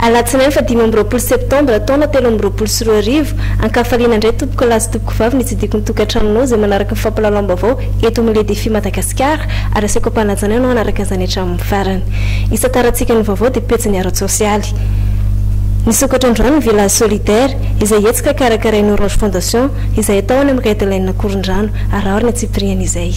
Alatsinainy faha dimy amby roapolo septambra taona telo amby roapolo sy roa arivo, ankafaliana indray tompoko lahy sy tompoko vavy ny tsidikon'ny tokantranonao izay manaraka ny fampilalaom-baovao eto amin'ny Le Défi Madagasikara ary asiako am-panajana ianao hanaraka izany hatramin'ny farany. Isan-tarantsika ny vaovao dia pejin'ny ara-tsosialy. Nisokatra androany ny Village Solidaire izay hetsika karakarain'ny Orange Fondation izay atao any amin'ny Red Line Ankorondrano. Araho ny antsipiriany izay.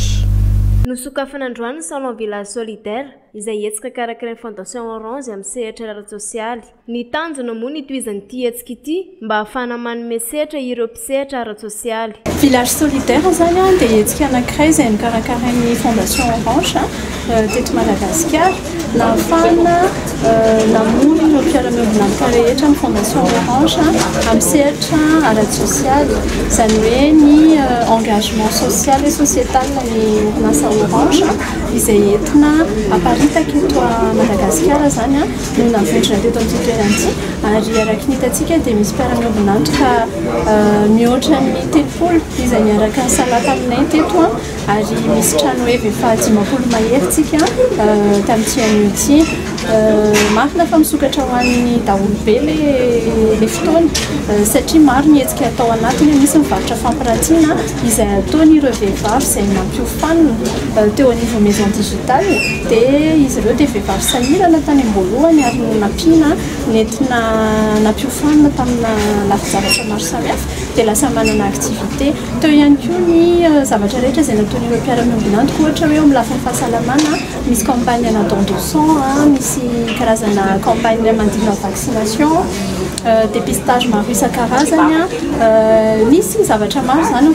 Nosokafana androany ny Salon Village Solidaire, izay hetsika karakarain'ny Fondation Orange amin'ny sehatra ara-tsosialy. Ny tanjona moa ny hitohizan'ity hetsika ity mba ahafahana manome sehatra ireo mpisehatra ara-tsosialy. Village Solidaire izany dia hetsika anankiray izay nokarakarain'ny Fondation Orange. teto Madagasikara, nahafahana namory ireo mpiara-miombon'antoka rehetra ny Fondation Orange amin'ny sehatra ara-tsosialy, izany hoe ny engagement social et societal ny orinasa Orange izay entina aparitaky eto Madagasikara izany no navonjina teto amin'ity toerana ity ary araka ny hitantsika dia misy mpiara-miombon'antoka mihoatra ny telopolo izay niaraka nisalahy taminay teto. Ary misy trano ef efa dimampolo mahery tsika tamin'ity anio ity. Marina fa misokatra ho an'ny daholo be le le fotoana satria maro ny hetsika atao anatiny. Misy ny varotra fampirantiana izay ataon'ireo vehivavy izay nampiofanina teo anivon'ny maison digitale. Dia izy ireo dia vehivavy sahirana tany am-boalohany ary no nampiana nentina nampiofanina tamina lafin-javatra maro samihafa dia lasa manana activité. Teo ihany koa ny zavatra rehetra izay nataon'ireo mpiara-miombona antoko, ohatra hoe eo amin'ny lafiny fahasalamana, misy campagne ana don de sang, misy karazana campagne manodidina ny vaccination, dépistage maro isan-karazany, nisy zavatra maro izany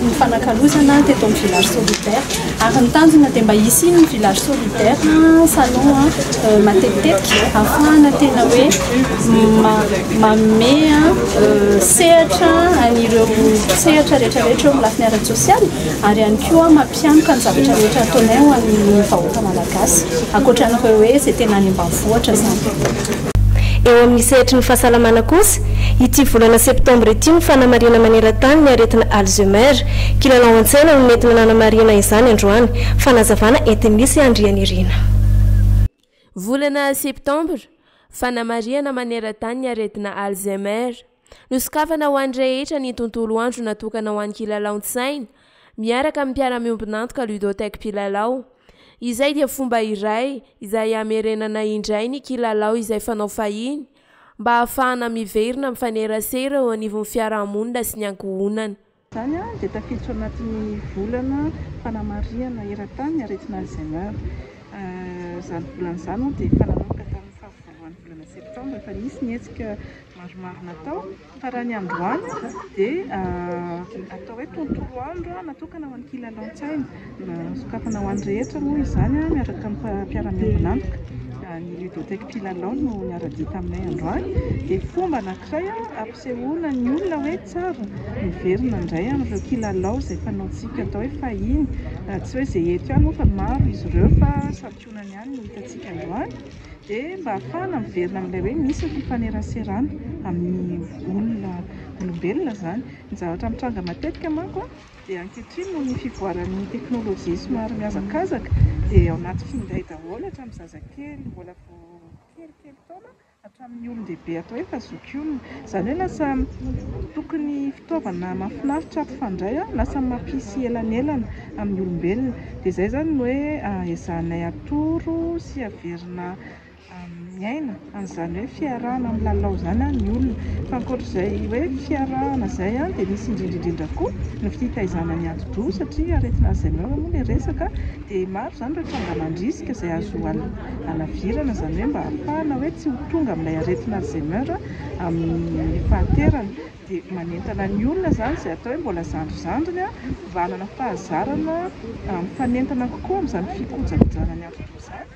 nifanakalozana teto amin'ny village solidaire. Ary ny tanjona dia mba hisy iny village solidaire salon matetitetika afahana tena hoe manome sehatra an'ireo sehatra rehetra rehetra eo amin'ny lafiny ara-tsosialy ary ihany koa mampianoka ny zavatra rehetra ataonay ho an'ny vahoaka malagasy ankoatra an'ireo hoe izay tena any ambanivohitra izany. Eo amin'ny sehatry ny fahasalamana kosa, ity volana septambra ity no fanamarihana maneran-tany ny aretina Alzheimer. Kilalao an-tsaina no nentina nanamarihina izany androany. Fanazavana entin'i Lisy Andrianirina. Volana septambra, fanamarihana maneran-tany ny aretina Alzheimer. Nosokafana ho an'ny rehetra ny tontolo andro natokana ho an'ny kilalaon-tsaina, miaraka amin'ny mpiara-miombon'antoka Ludothèque Mpilalao. Izay dia fomba iray izay hamerenana indray ny kilalao izay fanao fahiny, mba hahafahana miverina mifanerasera eo anivon'ny fiarahamonina sy ny ankohonana. Izany dia tafiditra ao anatin'ny volana fanamarihana eran-tany aretina Alzheimer. Izany volana izany moa dia efa nanomboka tamin'ny faha-voalohan'ny volana septambra, efa nisy ny hetsika maromaro natao, fa raha ny androany dia atao hoe tontolo andro natokana ho an'ny kilalaon-tsaina. Sokafana ho an'ny rehetra moa izany miaraka amin'ny mpiara-miombon'antoka. Ny Ludothèque Mpilalao no niara-dia taminay androany dia fomba anankiray hampisehoana ny olona hoe tsara miverina indray amin'ireo kilalao izay fanaontsika atao hoe fahiny. Tsy hoe izay eto ihany moa fa maro izy ireo fa santionany ihany no hitantsika androany dia mba hahafahana miverina amin'ilay hoe misy ny fifaneraserana amin'ny olona olombelona izany. Ny zavatra mitranga matetika manko a! Dia ankehitriny noho ny fivoaran'ny teknolojia somary mihazakazaka dia ao anaty finday daholo hatramin'ny zazakely mbola vao kelikely taona hatramin'ny olon-dehibe atao hoe fa zokiolona. Izany hoe lasa tokony fitaovana mahafinaritra mpifandray, lasa mampisy elanelana amin'ny olombelona. Dia izay izany no hoe ezahanay atoro sy averina miaina an'izany hoe fiarahana milalao izany ny olona. Fa ankoatr'izay hoe fiarahana izay dia misy indrindra indrindra koa ny fitaizana ny atidoha satria aretina Alzheimer moa ilay resaka dia maro izany ireo tranga mandrisika izay azo halavirana izany hoe mba hahafahana hoe tsy ho tonga amin'ilay aretina Alzheimer amin'ny fahaterana. Dia manentana ny olona izany izay atao hoe mbola zandrizandriny mba hanana fahazarana mifanentana kokoa amin'izany fikojakojana ny atidoha izany.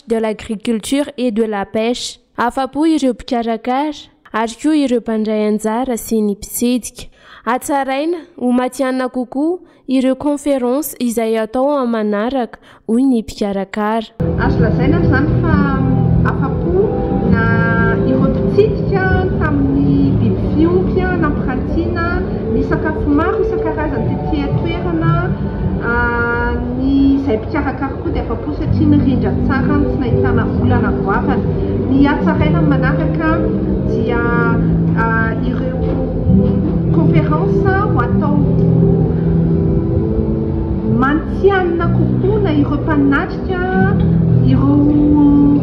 de l'agriculture et de la pêche. Afa-po ireo mpikarakara ary koa ireo mpandray anjara sy ny mpitsidika. Hatsaraina ho matihanina kokoa ireo conférences izay hatao amin'ny manaraka, hoy ny mpikarakara. Azo lazaina ary izany fa afa-po na ireo mpitsidika tamin'ny biby fiompy nampirantiana, ny sakafo maro isan-karazany tety an-toerana, ny izay mpikarakara. Koa dia afa-po satria mirindra tsara ny tsy nahitana olana goavana. Ny hatsaraina ny manaraka dia ireo conférence ho atao mantsianina kokoa na ireo mpanatrika ireo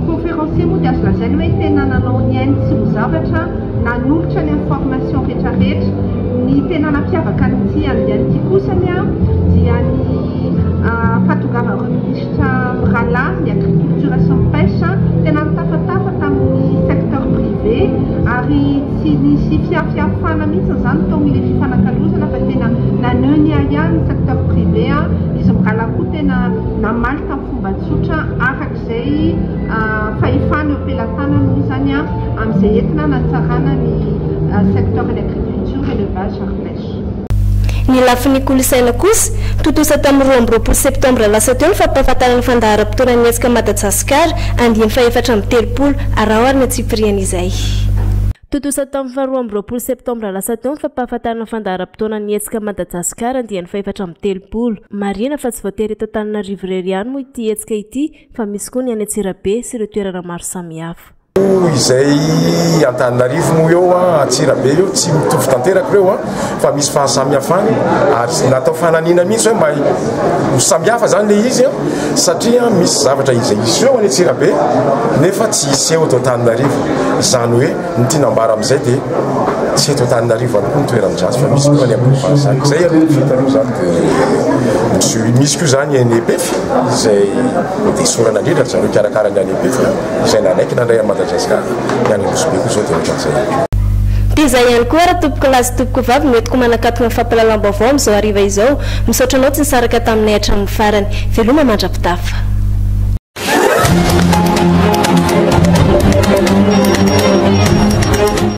conférencier moa dia azo lazaina hoe tena nanao ny ainy tsy ho zavatra nanolotra ny information rehetrarehetra. Ny tena nampiavaka an'ity andiany ity kosa ny dia ny Fahatongavan'ireo minisitra mirahalahy, ny agriculture sy ny pêche, tena nitafatafa tamin'ny secteur privé ary tsy nisy fiafiafana mihitsy izany tao amin'ilay fifanakalozana fa tena naneho ny ahiahy ny secteur privé. Izy mirahalahy koa tena namaly tamin'ny fomba tsotra araka izay fahefany eo am-pelatanany moa izany amin'izay entina hanatsarana ny secteur-n'ny agriculture, élevage ary pêche. Ny lafiny kolontsaina kosa, tontosa tamin'ny roa amby roapolo septambra lasa teo ny fampahafantarana ny fandaharam-potoanan'ny hetsika Madajasikara andiany fahefatra amby telopolo araho ary ny antsipiriany izay. Tontosa tamin'ny faharoa amby roapolo septambra lasa teo ny fampahafantarana ny fandaharam-potoanan'ny hetsika Madajasikara andiany fahefatra amby telopolo. Marihina fa tsy voatery eto Antananarivo irery ihany moa ity hetsika ity fa misy koa ny any Antsirabe sy ireo toerana maro samihafa. izay Antananarivo moa eo an, Antsirabe eo tsy mitovy tanteraka ireo an, fa misy fahasamihafany ary natao fananina mihitsy hoe mahay ho samihafa zany le izy an, satria misy zavatra izay iseho any Antsirabe nefa tsy iseho eto Antananarivo, izany hoe ny tiana ambara amin'izay dia tsy eto Antananarivo ihany koa ny toerany drasy fa misy koa any amin'ny fahasamihafany. Izay aloha ny fitanao zany dia misy koa zany any EPF izay esorana indrindra ry zareo mpikarakara ny any EPF. izay nanaiky nandray an'i Madagasikara, ny any Nosy-Be koa izao dia ohatran'izay. Dia izay ihany koa ary tompokolahy sy tompokovavy no entiko manakatona ny fampahalalam-baovao amin'izao hariva izao. Misaotra anao tsy nisaraka taminay hatramin'ny farany. Veloma mandra-pitafa.